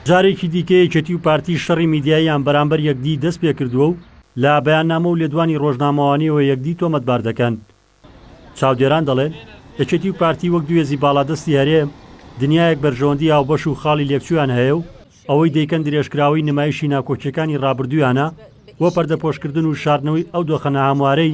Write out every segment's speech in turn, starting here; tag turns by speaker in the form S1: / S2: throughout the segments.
S1: جارێکی دیکە یەکێتی و پارتی شەڕی میدیاییان بەرامبەر یەکدی دەست پێکردووە و لە بەیاننامە و لێدوانی ڕۆژنامەوانیەوە یەکدی تۆمەتبار دەکەن. چاودێران دەڵێن، یەکێتی و پارتی وەک دوو هێزی باڵادەستی هەرێم، دنیایەک بەرژەوەندی هاوبەش و خاڵی لێکچوویان هەیە و ئەوەی دەیکەن درێژکراوەی نمایشی ناکۆکییەکانی ڕابردوویانە بۆ پەردەپۆشکردن و شاردنەوەی ئەو دۆخە ناهەموارەی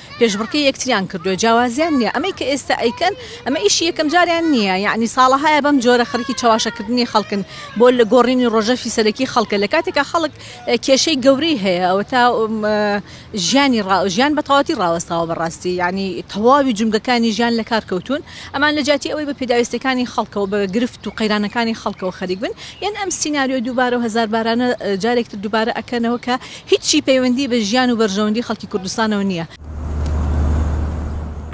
S2: پێشبڕکێی یەکتریان کردوە جیاوازیان نیە ئەمەی کە ئێستا ئەیکەن ئەمە ئیشی یەکەم جاریان نیە یەعنی ساڵەهایە بەم جۆرە خەرکی چەواشە کردنی خەڵکن بۆ لە گۆڕینی ڕۆژەفی سەرەکی خەڵکە لە کاتێکا خەڵک کێشەی گەورەی هەیە ئەوەتا ژیانی ڕا ژیان بە تەواتی ڕاوەستاوە بەڕاستی یعنی تەواوی جومگەکانی ژیان لە کار کەوتون ئەمان لە جیاتی ئەوەی بە پێداویستەکانی خەڵکەوە بە گرفت و قەیرانەکانی خەڵکەوە خەریک بن یان ئەم سیناریۆ دووبارە و هەزار بارانە جارێکتر دووبارە ئەکەنەوە کە هیچی پەیوەندی بە ژیان و بەرژەوەندی خەڵکی کوردستانەوە نییە.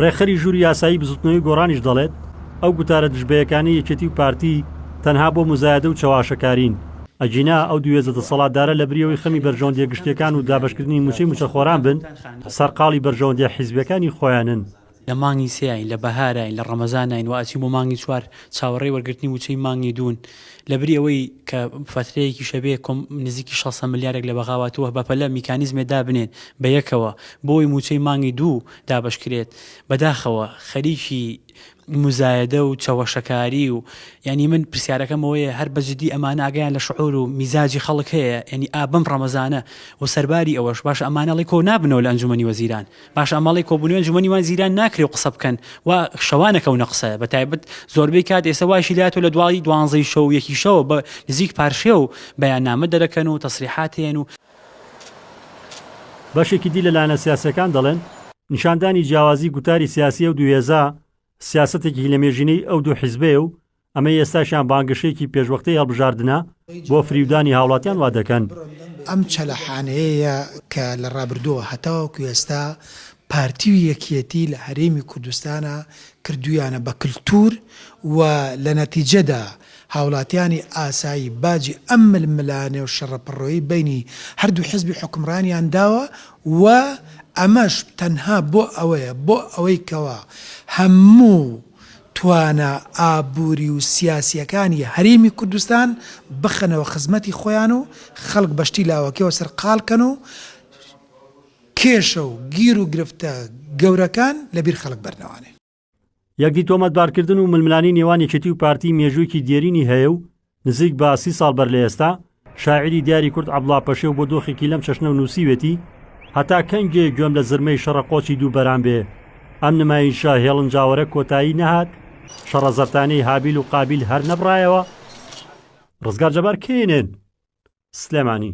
S1: ڕێکخەری ژووری یاسایی بزوتنەوەی گۆڕانیش دەڵێت، ئەو گوتارە دژبەیەکانەی یەکێتی و پارتی تەنها بۆ موزایەدە و چەواشەکارین، ئەگینا ئەو دوو هێزە دەسەڵاتدارە لەبری ئەوەی خەمی بەرژەوەندیە گشتیەکان و دابەشکردنی موچەی موچەخۆران بن، سەرقاڵی بەرژەوەندیە حیزبیەکانی خۆیانن. لە مانگی
S3: سێاین، لە بەهاراین، لە ڕەمەزاناین و ئەچین بۆ مانگی چوار، چاوەڕێی وەرگرتنی وچەی مانگی دوون. لەبری ئەوەی کە فەترەیەکیشە بێ کۆم نزیکی شەسە ملیارێک لە بەغاواتووه بەپەلە میکانیزمێ دابنێن بە یەکەوە بۆی مووچەی مانگی دوو دابەش کرێت، بەداخەوە خەریکی موزایەدە و چەوەشەکاری و یانی من پرسیارەکەم ئەوەیە هەر بە جدی ئەمانە ئاگایان لە شعور و میزاجی خەڵک هەیە یانی ئا بەم ڕەمەزانە و سەرباری ئەوەش باشە ئەمانە ئەڵێی کۆ نابنەوە لە ئەنجومەنی وەزیران پاش ئاماڵەی کۆبوونەوەی ئەنجومەنی وان زیران ناکرێ و قسە بکەن و شەوانە کەونە قسە بە تایبەت زۆربەی کات ئێسە وایشی لاتۆ لە دواڵی دوانزەی شەو یەکی شەوە بە نزیک پارشێ و بەیانامە دەرەکەن و تەسریحات هەیەن و
S1: بەشێکی دی لە لایەنە سیاسیەکان دەڵێن نیشاندانی جیاوازی گوتاری سیاسی ئەو دوو هێزە سیاسەتێکی لەمێژینەی ئەو دوو حیزبەیە و ئەمەی ئێستاشیان بانگەشەیەکی پێشوەختەی هەڵبژاردنە بۆ فریودانی هاوڵاتیان وادەکەن. ئەم
S4: چەلەحانەیەیە کە لە ڕابردووەوە هەتاوەکو ئێستا پارتی و یەکیەتی لە هەرێمی کوردستانا کردویانە بە کلتور و لە نەتیجەدا هاوڵاتیانی ئاسایی باجی ئەم ململانێ و شەڕەپڕۆی بەینی هەردوو حزبی حوکمڕانیان داوە و ئەمەش تەنها بۆ ئەوەیە بۆ ئەوەی کەوا هەموو توانا ئابووری و سیاسییەکانی هەرێمی کوردستان بخەنەوە خزمەتی خۆیان و خەڵک بە شتی لاوەکیەوە سەرقاڵ کەن و کێشە و گیر و گرفتە گەورەکان لە بیر خەڵک بەرنەوانێ. یەکدی
S1: تۆمەتبارکردن و ململانێی نێوان یەکێتی و پارتی مێژووێکی دێرینی هەیە و نزیک بە سی ساڵ بەر لە ئێستا، شاعیری دیاری کورد عەبڵا پەشێو بۆ دۆخێکی لەم چەشنە نووسیوێتی، هەتا کەنگێ گوێم لە زرمەی شەڕە قۆچی دوو بەران بێ، ئەم نمایشە هێڵنجاوەرە کۆتایی نەهات، شەڕە زەرتانەی هابیل و قابیل هەر نەبڕایەوە؟ ڕزگار جەبار کێنێن، سلێمانی.